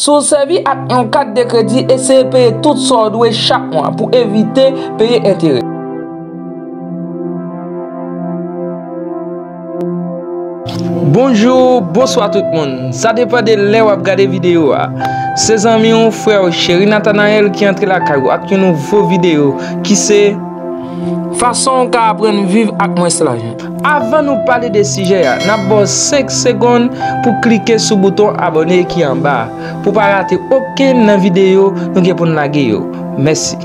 Si w sèvi ak yon kat de kredi, eseye peye tout sa w dwe chak mwa pou evite peye enterè. Bonjou, bonswa tout moun. Sa depan de lè w ap gade videyo a. Se zanmi w, frè w, Cheri Nathanael ki antre lakay ou ak yon nouvo videyo ki se. Fason w ka aprann viv ak mwens lajan. Avan nou pale de sijè a, n ap ba w 5 segonn pou klike sou bouton abòne ki anba a, pou w pa rate okenn nan videyo nou gen pou n lage yo. Mèsi!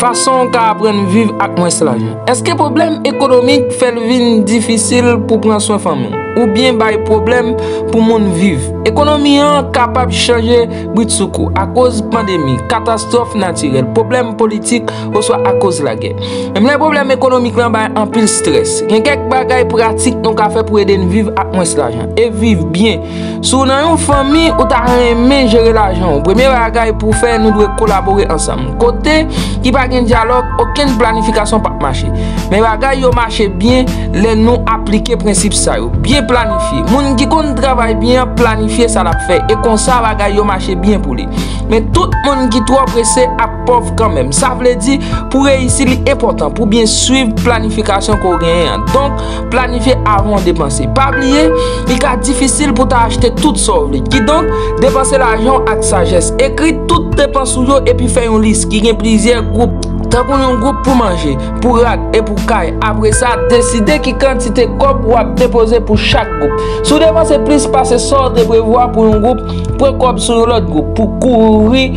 Fason w ka aprann viv ak mwens lajan. Èske pwoblèm ekonomik fè l vin difisil pou w pran swen fanmi w oubyen bay pwoblèm pou moun viv? Ekonomi an kapab chanje bridsoukou akoz pandemi, katastwòf natirèl, pwoblèm politik oswa akoz lagè. Menm lè pwoblèm ekonomik lan bay anpil strès, gen kèk bagay pratik nou ka fè pou ede n viv ak mwens lajan e viv byen. Si w nan yon fanmi, ou ta renmen jere lajan w. Premye bagay pou w fè, nou dwe kolabore ansanm. Kote ki pa gen dyalòg, okenn planifikasyon pap mache. Men bagay yo mache byen lè nou aplike prensip sa yo, Byen planifye. Moun ki konn travay byen an planifye sa l ap fè e konsa bagay yo mache byen pou li. Men tout moun ki twò prese ap. pòv kanmenm. Sa vle di, pou reyisi li enpòtan pou byen swiv planifikasyon ke w genyen an. Donk, planifye avan w depanse. Pa bliye, li ka difisil pou ta achte tout sa w vle. Kidonk, depanse lajan w ak sajès. Ekri tout depans ou yo epi fè yon lis ki gen plizyè gwoup. Tankou yon gwoup pou manje, pou rad e pou kay. Apre sa, deside ki kantite kòb w ap depoze pou chak gwoup. Si w depanse plis pase sa w te prevwa pou yon gwoup, pran kòb sou yon lòt gwoup pou kouvri.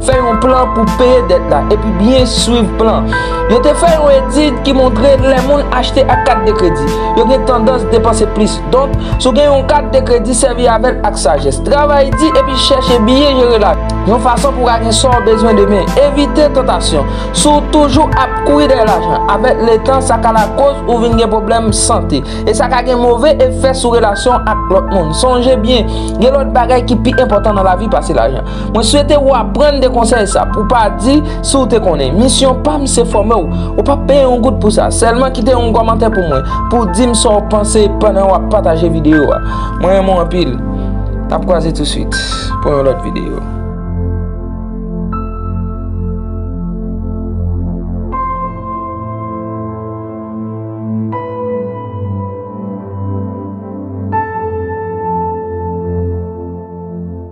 Fè yon plan pou peye dèt la epi byen swiv plan. Yo te fè yon etid ki montre lè moun achte ak kat de kredi, yo gen tandans depanse plis. Donk, si w gen yon kat de kredi, sèvi avè l ak sajès. Travay di epi chèche byen jere lajan w, yon fason pou w ka gen sa w bezwen demen. Evite tantasyon. Si w toujou ap kouri dèyè lajan, avèk letan, sa ka lakoz ou vin gen pwoblèm sante. E sa ka gen move efè sou relasyon w ak lòt moun. Sonje byen, gen lòt bagay ki pi enpòtan nan lavi pase lajan. Mwen swete ou aprann de konsèy sa pou pa di si ou te konnen. Misyon pa m se fòme w. Ou pap peye yon goud pou sa. Sèlman kite yon kòmantè pou mwen pou w di m sa w panse pandan wap pataje videyo a. Mwen renmen w anpil. Nap kwaze touswit pou yon lòt videyo.